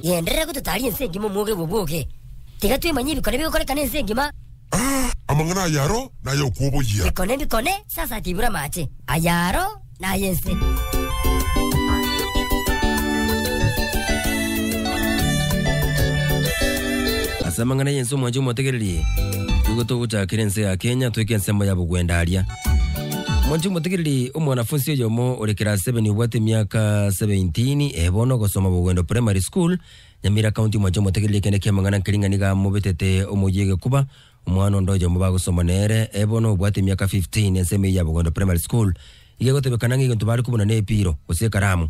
Genderera gototaria ense engima omwoga ewo bwoge. Tiga twemanye ebikone bigokoreka nense engima. Amang'ana ay'aro nay'okwoboyia. Bikone bikone sasati ibura amache. Ay'aro. na Yese. Ase amang'ana ya Yesu omwanche omotegererie, nigo togochakera ense ya Kenya toike ensemo ya bogwendaria. Omwanche omotegererie omwanafunsi oyomo ore class 7 obwate emiaka 17 eh, bono ogosoma Bogwendo Primary School, Nyamira County omwanche omotegererie ekende kiamang'ana nkering'ana niga amobetete omoyio egekuba Omwana onde oyomo bagosoma nere, ee bono obwate emiaka 15, ensemo eyio ya Bogondo Primary School iga egotebekana ng'a egento bare kobuna nepiiro, gose ekaramu.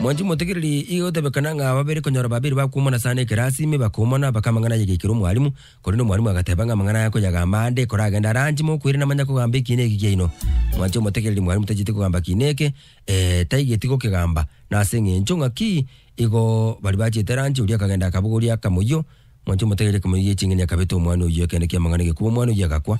Mwanchi motegereri, iga egotebekana ng'a babere konyora babere bakoumana sana ekerasi, ime bakoumana, baka amang'ana ayegeikera omwalimu, korende omwalimu agateba ng'a amang'ana aya koyagamba ande, ekora agende are anche, mokoirana manya kogamba ekiina eki kiaino. Mwanchi omotegereri, mwalimu tacheti kogamba kiina eke, ee, taigeti gokegamba, nase eng'encho ng'aki Igo baria bachete eranchi, oria akagenda akabogoria akamoyio, mwanche omotegerie akamoyio gie ching'eni akabeta omwana oyio ekeene ki'amang'ana egekuba omwana oyio agakwa.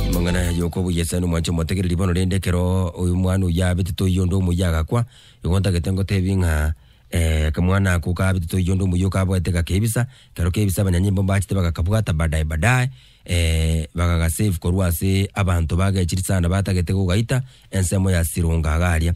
Amang'ana aya yokwa boyesani mwanche omotegererie bono rende ekero oyo omwana oyio abetete oyio onde omoyio agakwa, igo ntagete ngotebi ng'a eh, akamwana ako kabetete oyio onde omoyio kaboete gakebisa, ekero kebisa abanyanyimbo mbachete bagakabwata badae badae, Ee, bagagasave korwa ase abanto bagechiri sana batagete kogaita ensemo ya Sironga iga aria.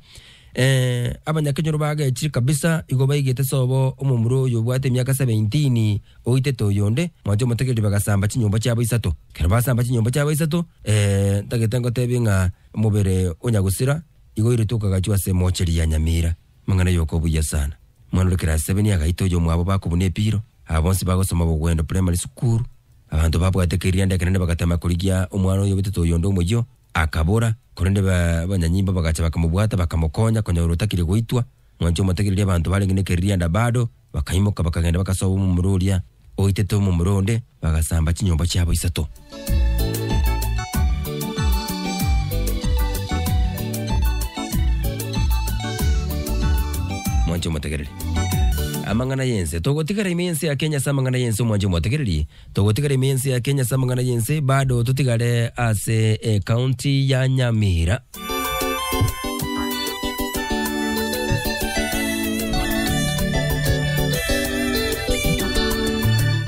Ee, abanyakenyoro bagechire kabisa igo baigete sobo omomura oyo obwate emiaka seventeen oitete oyonde, mwanche omotegereri bagasamba chinyomba chiabo isato. Ekero basamba chinyomba chiabo isato, ee, ntagete ngotebie ng'a omobere o Nyagusira igo oiretwe okagachwa ase emocheri ya Nyamira. Amang'ana yoka obuya sana. Omwana ore class seven agaita oyomwabo bakobuna epiro, aba bonsi bagosoma Bogwendo Primary School, Abanto babwate kerianda ekenene bagatama korigia omwana oyo obetete oyonde omoyio, akabora, korende ba abanyanyimbo bagacha bakamobwata, bakamokonya, konya ore otakire goitwa, mwanche omotegererie abanto barenge nekeririanda bado, bakaimoka bakagenda bagasoba omomura oria oitete omomura onde, bagasamba chinyomba chiabo isato. Amang'ana y'ense. Togotigara ime y'ense ya Kenya ase amang'ana y'ense omwancho omotegererie. Togotigara ime y'ense ya Kenya ase amang'ana y'ense bado totigare ase ecounty ya Nyamira.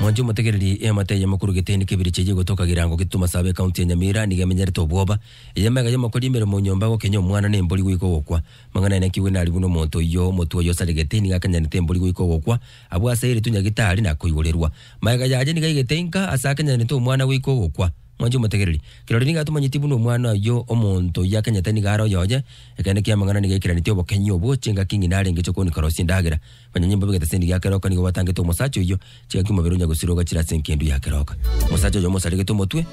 Mwancho omotegereri eamate eye makuru geteni kebiri cheye gotoka girango gituma saba ecounty ya Nyamira niga emenyerete obwoba. Eyamega yomokori emeremo nyomba gokenya omwana nembori goika ogokwa. Mang'ana aya nakigwe nari buna omonto oyio, omotwe oye osaregete, nigo akenyanete embori goika ogokwa, abwo ase eritwe Nyagitari nakoigorerwa. Magega yaye nigo aigete inka, ase akenyanete omwana goika ogokwa. Mwanche omotegereri? Kirori nigo atomanyeti buna omwana oyio, omonto oyio akenyete nigo are oyoye. Ekeene ki'amang'ana nigo aikeranetie obokenyi obwo, chingaki ng'ina arenge chikooni karosia endagera. Onye nyimbobe egete ase endigo ya keroka, nigo gwatangete omosacha oyio, chigaki omobere onya gosiroga chire ase enkendu ya keroka. Omosacha oyo omosaregete omotwe,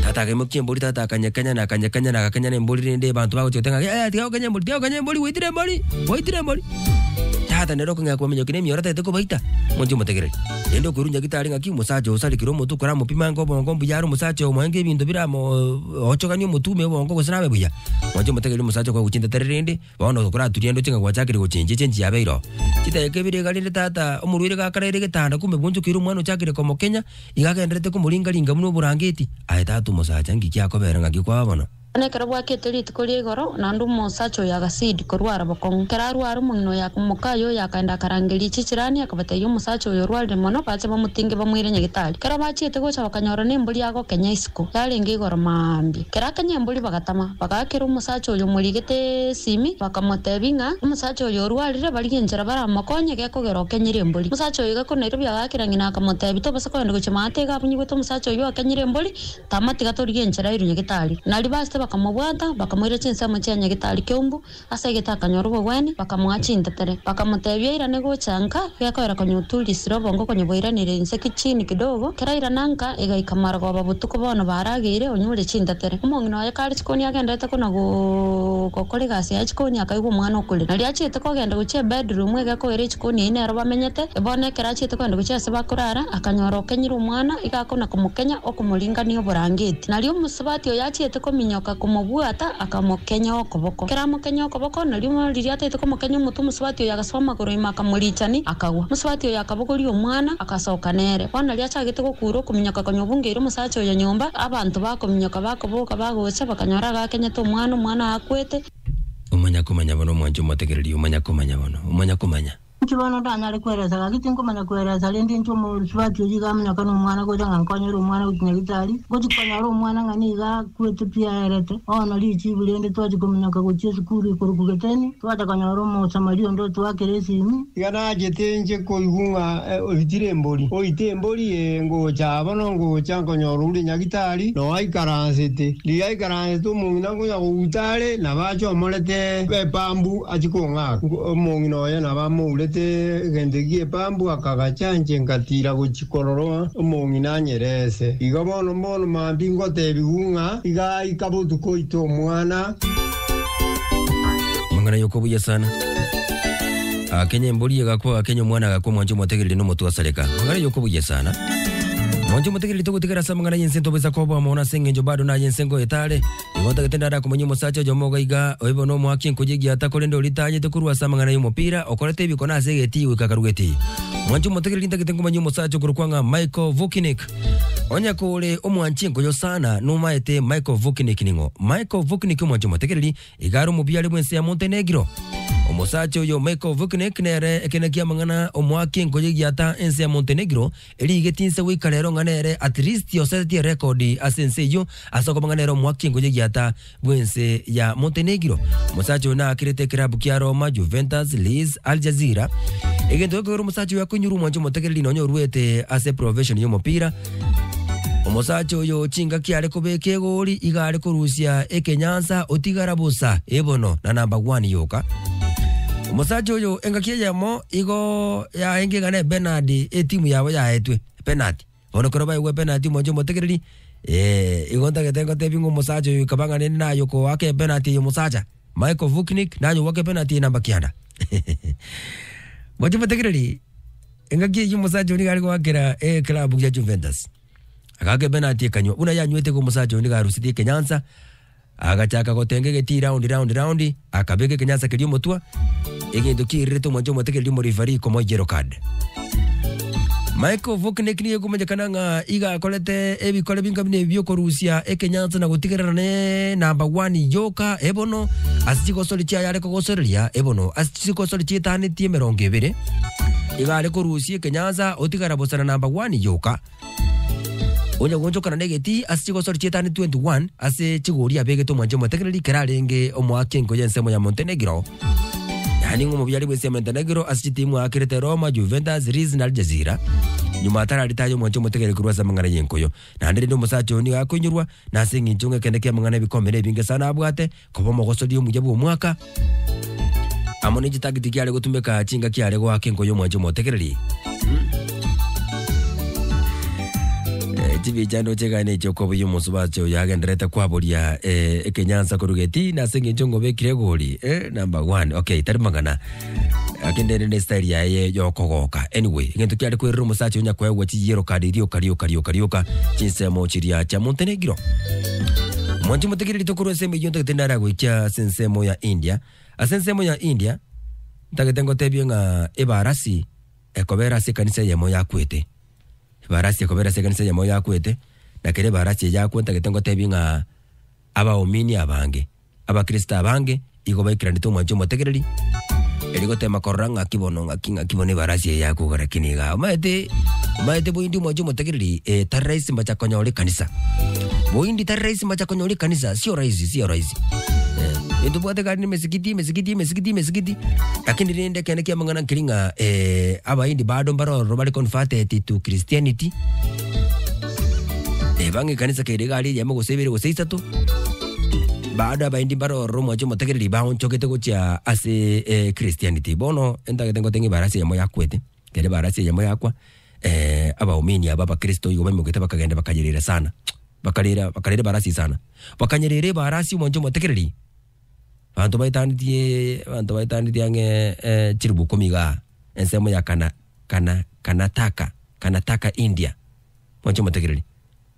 tata akaimokia embori, tata akanyekenya, na akanyekenya, na agakenya nembori, rende ebanto bagochia goteba ng'a, Yaya, tiga gokenya embori, tiga gokenya embori, gwaitire embori, gwaitire embori. Tata nere okong'ea kobaminyokia na emioro atagete kobaita, monto omotegereri. Rende okoirurunya gete are ng'aki, omosacha oyo osarekire omotwe koramopima ango obongo mbuya are omosacha oyo moange ebinto biramo ochoganie omotume obongo gose nabe buya. Monto omotegereri omosacha okogwa gochia intatare rende, Bono tokoraturia ndoche ng'a gwachakeire gochenchia chenchi yabe iro. Chidakika ibere iga rende tata omorwaire gakaraire egetanda kumbe bwonchokeire omwana ochakeire komokenya, iga agendererete komoringaringa buna oborangeti. Aye tata omosacha, ng'iki giakobera ng'aki kwaba bono? Bono ekero bwakete rituko ria igoro, naende omosacha oyo agasidi korwara bokong'u. Ekero arware, omong'ina oyo aka mokaye oyo akaenda akarangeria chichirani, akabatebia, Omosacha oyo orwarire mono, bache bamotinge bamoire nyagetari. Ekero bachiete gocha bakanyora nembori agokenya isiko. Iko yarenge igoro mambia. Kera akanyembori bagatama, bagakera omosacha oria omorigete esimi, bakamotebia ng'a omosacha oyo orwarire, barigie enchera baramokonye, gekogera okenyire embori. Omosacha oyo gakona erio biagakire, ng'ina akamotebia, Tobasa kogenda gochia maate iga abunyigwete omosacha oyio okenyire embori, tama tiga torigie enchera erio nyagetari. Nario baachete bakamobwata, bakamoira chinsemo chia nyagetari Keumbu. Ase egete akanyora obogwenia, bakamoa chintetere. Bakamotebia, Irane gocha nka, gekoera konya oturisire obongo konya bwairaneire inseki chini kidogo, kera irana nka, egaika marogoba botuko bono barageire, onyure chintetere. Omong'ina oye kare chikoni agenderete kona gokora egasi yaye chikoni akaigwa omwana okorire. Nario achiete kogenda gochia ebedroom egekoera echikoni eyio nero bamenyete. Bono ekero achiete kogenda gochia ase bakorara, akanyora okenyire omwana, iga akona komokenya okomoringania oborangeti. Nario. Sabati oyo achiete kominyoka komobwata, akamokenya okoboko. Ekero amokenya okoboko, nario riria ataete komokenya omotwe, omosabati oyo agasoa amagoro ime akamorichani, akagwa. Omosabati oyo akabogoria omwana, agasoka nere. Bono riria achagete gokuura okominyoka konya obungeire omosacha oyo nyomba, abanto bakominyoka bakoboka bagocha, bakanyora agakenyete omwana, omwana akwete. Omanyakomanya bono omwanche omotegereri, omanyakomanya bono, omanyakomanya. Inche bono ndanyare kweresa, gaki tinkomanya kweresa, rende inche omosubati oyio iga amonyokana omwana gocha ng'a nkonyore omwana gochia nyagitari, ngochia konyora omwana ng'a niga akwete pi aerete, bono richibu rende twachia kominyoka gochia esukuru ekorokwa Geteni, twacha konyora Omosamaria onde otoakera esimi. Iga nachete inche koigwa ng'a oitire embori, oite embori ee, ngocha aa bono ngocha nkonyora ore nyagitari, na oaikaransete. Riria aikaransete omong'ina. Akonya kogwuta are, nabo ache omorete b'epambu achie kong'aka. Omong'ina oye nabo amourete egento gi'epambu akagacha inche nkatiira gochia korora omong'ina anyereese. Iga bono mbono maambia ngotebigwa ng'a igaika botuko oite omwana. Amang'ana y'okobuya sana. Agakenya embori, egakwa, agakenya omwana, agakwa omwancha omotegereri na omotwasareka. Amang'ana ya okobuya sana. Omwancha omotegereri togotigara ase amang'ana y'ense ntobaisa koba omono ase engencho bado naye ense ngo etare. Nigo ntagete ndare akomanya omosacha oyomo iga iga, oibe nomoaki enkoji egiata korende ori tayete korwa ase amang'ana y'omopira, okorete ebiko na ase egetii goika akarugetii. Omwancha omotegereri ntagete nkomanya omosacha okorokwa ng'a Michael Vukinic. Onye kore omwancha enkoyo sana, nomaete Michael Vukinic ning'o? Michael Vukinic omwancha omotegereri, Igare omobiare bw'ense ya monto enegiro. Omosacha oyo make of kinek nere ekina kiamang'ana omoake enkoyo egiata ense ya monto enegiro eri igeti inse goika rero ng'a nere at least osetetie record ase ense eyio ase okoba ng'a nere omoake enkoyo egiata bw'ense ya monto enegiro. Omosacha oyo naakirete ekilabu kia Roma, Juventus, Leeds, Al Jazeera. Egento gekogera omosacha oyo akoinyora omwancho omotegereri nonya orwete ase profession y'omopira Omosacha oyo chingaki are kobeka egoori iga are korusia ekenyansa otigara bosa ebono na number one yoka. Omosacha oyo engaki eyemo igo yaenge iga ne Bernard etimu yabo yaetwe penalty. Bono kero baegwa penalty omonche omotegereri eh igo ntagete ngotebi ng'a omosacha oyo ikaba ng'a nende naye okoaka epenalty eye omosacha. Michael Vuknik nanyobwaka epenalty eye namba kianda. Moche motegereri Engaki eyio omosacha oria nigo are goakera ekelambu gia Juventus. Agaaka epenati ekanywa. Buna yanywete iga omosacha oyo nigo arusirie ekenyansa, agachaka gotenga egetii round round round, akabeka ekenyansa keria omotwe, egento kiairerete omwancha omotegereria omorifari komoa yellow card. Michael Vuknik nigo ekomanyekana ng'a iga akorete ebikore binga buna ebi biokorusia ekenyansa na gotigerera ne namba one yoka ebono ase chigosori chiaye are kogosoreria ebono ase Chisiiko chore chietanetie emerongo ebere nigo are korusia ekenyansa otigara bosa na namba one yoka. Onye gonchokana negeti ase chigosori chietani 21 ase chigori abegete omwanche omotegereri kera arenge omoaki enko y'ensemo ya Montenegro yaani ng'a omobiari bw'ense ya Montenegro ase chitimu aakerete Roma, Juventus, Leeds na Al Jazeera. Nyuma atarari taye omwanche omotegereri korwa ase amang'ana y'enkoyo. Naende rende omosacha oyo nigo akoinyorwa na ase eng'encho ng'a ekende ki'amang'ana ebikombe nebinge sana abwate koba omogosori omuya bw'omwaka, amo ne chitagiti kiare gotumeka chingaki are goaka enko y'omwancha omotegereri. Eh, chibicha ndoche egane echi okobuya omosubache oyo agenderete kwaboria eh, ekenyansa korwa geti nase engencho ngobekire egori eh, number one okay tari magana akenderere style yaye yokogoka anyway egento kiare kwerera omosacha onya kwegwa chiyero kadi rioka rioka rioka rioka chinsemo chiria cha monte negiro mwanchi motegere ritokorwa ensemo eyo ntagete ndara goikia ase ensemo ya india ase ensemo ya india ntagete ngotebie ng'a ebarasi ekobera ase ekanisa eyemo yakwete ebarasi ekobera ase ekanisa eyemo yakwete na kere ebarasi eye yakwa ntagete ngotebie ng'a Abaomini abange. Abakristo abange igo baikaranete omwanche omotegereri, erio goteema korora ng'aki bono, ng'aki, ng'aki bono ebarasi eye yakoga lakini igaa. Omaete, omaete boindi omwanche omotegereri, eh, tari rahisi mbacha konyora ekanisa. Boindi tari rahisi mbacha konyora ekanisa, sio rahisi, sio rahisi. Eh, ntobwate kare ne emesigiti, emesigiti, emesigiti, emesigiti, lakini rende ekende kia amang'ana nkeri ng'a, eh, Abahindi bado mbare ororo bare converted to Christianity, Eh, bang'e ekanisa kere egari eyemo gose ibere gose isato bado abaendi mbare ororo mwanche omotegereri baonchogete gochia ase eh, christianity bono entagete ngote ng'a ebarasi eyemo yakwete kere ebarasi eyemo yakwa eh, abaomini aba abakristo igo baimoketie bakagenda bakanyerera sana bakarera bakarera ebarasi sana bakanyerera ebarasi omwancho omotegereri abanto baetanetie abanto baetanetie ang'e eh, chiribuku komi igaa ensemo ya kana Kana, Karnataka, Karnataka, India. Mwanche omotegereri.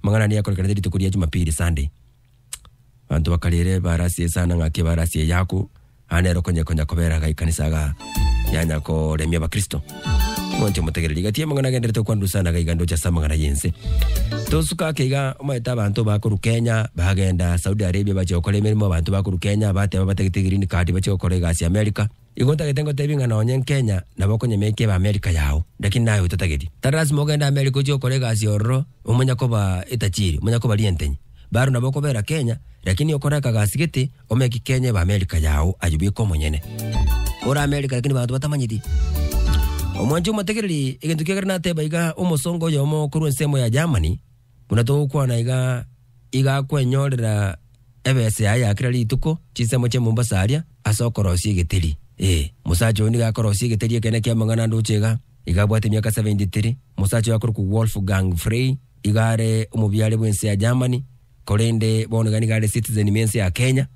Amang'ana ane yakorekanete rituko ria Jumapili, Sunday. Abanto bakarere barasie esana ng'aki barasie eyaku, aa nero konye konya kobera iga ekanisa iga yanya koremia abakristo. Mwanche omotegereri. Gati amang'ana agenderete okwanwa esana iga iga ndoche ase amang'ana y'ense. Tosuka ake iga, omanyete abanto bakorwa Kenya, bagenda Saudi Arabia bachia gokora emeremo, abanto bakorwa Kenya bateba batagete green card bachie gokora egasi America, Igo otagete ngotebi ng'a nonye nkenya nabo okonyemekia ebe Amerika yao, lakini naye otatageti. Tari lasima ogende Amerika ochie gokora egasi ororo omonya koba etachiri, omonya koba rientenyi. Baro nabo okobera Kenya, lakini okore akagasi gete omeki Kenya ebe Amerika yao ayio bweka omonyene. Ore Amerika lakini banto batamanyeti. Omwancho omotegereri egento kiagera nateba iga omosongo oyomo korwa ensemo ya Germany, Buna togokwana iga, iga kwenyorera ebesa yaye ya kera rituko, chinsemo chia Mombasa aria, ase okorosia egeteri. Ee, mosacha oyo nigo akorosia egeteri ekenene ki'amang'ana andoche iga. Iga abwate emiaka 73, mosacha oyo akorokwa Wolfgang Frey iga are omobiare bw'ense ya Germany, korende bono iga nigo are citizen bw'ense ya Kenya,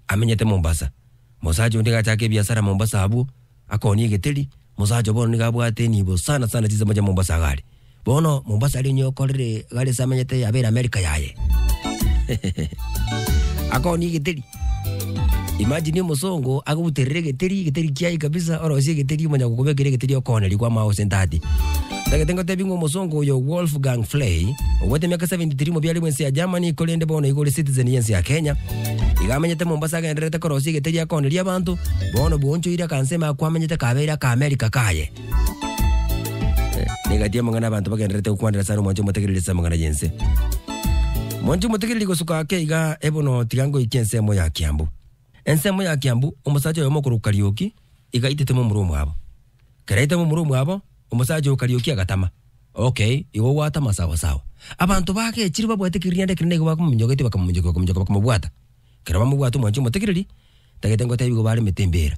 amenyete Mombasa. Mosacha oyo nigo achaka ebiasara Mombasa abwo. Akoonia egeteri, Omosacha oo bono nigo abwate enibo sana sana chinsemo chia Mombasa iga are. Bono Mombasa aria onye okorire iga are ase amenyete yabeire America yaye. Akoonia egeteri. Imagine omosongo agobuterere egeteri, egeteri kiaye kabisa, orosie egeteri omonyakokobekera egeteri okooneria kwamao gose entati. Ntagete ngotebi ng'a omosongo oyo Wolfgang Flay, obwate emiaka 73 mobiarigwe ense ya Germany korende bono igo ore citizen y'ense ya Kenya. Iga amenyete Mombasa agendererete korosia egeteri akoneria abanto, bono bwonchoire akansa ime ako amenyete kabeire aka America kaye. Eh, Negati amang'ana abanto bagendererete gokwanera sana omwancho omotegereri ase amang'ana y'ense. Mwancho omotegereri gosuka ake iga ebono tiga ngoikia ensemo ya Kiambu. Ensemo ya Kiambu, omosacha oyomo okorokwa Karioki iga aitete momura omwabo. Kera aita momura omwabo, omosacha oo Karioki agatama, Okay, igo gwatama sawa sawa. Abanto bagechire babwate kerianda ekere naigo bakomominyoka eti bakamominyokia bakominyoka bakamobwata. Kera bamobwata omwanchi omotegereri, tagete ngoteba igo baremete embeera.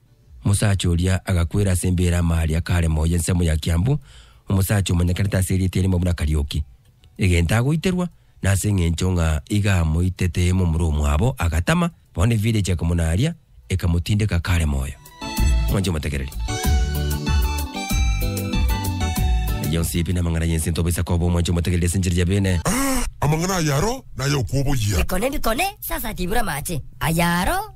Omosacha oria agakwera ase embeera amaari akare moyo ensemo ya Kiambu, omosacha omanyekanete ase erieta erimo buna Kariuki. Egento agoiterwa, na ase eng'encho ng'a iga amoitete momura omwabo, agatama, bono evira eche ekomonaaria, ekamotindeka akare moyo. Mwanche omotegereri. Aya onsi pi namang'ana y'ense ntoba isaka obo, mwanche omotegereri ase enchera ya beene. Amang'ana ay'aro nay'okwoboyia. Bikone, bikone, sasa tibura amache ay'aro.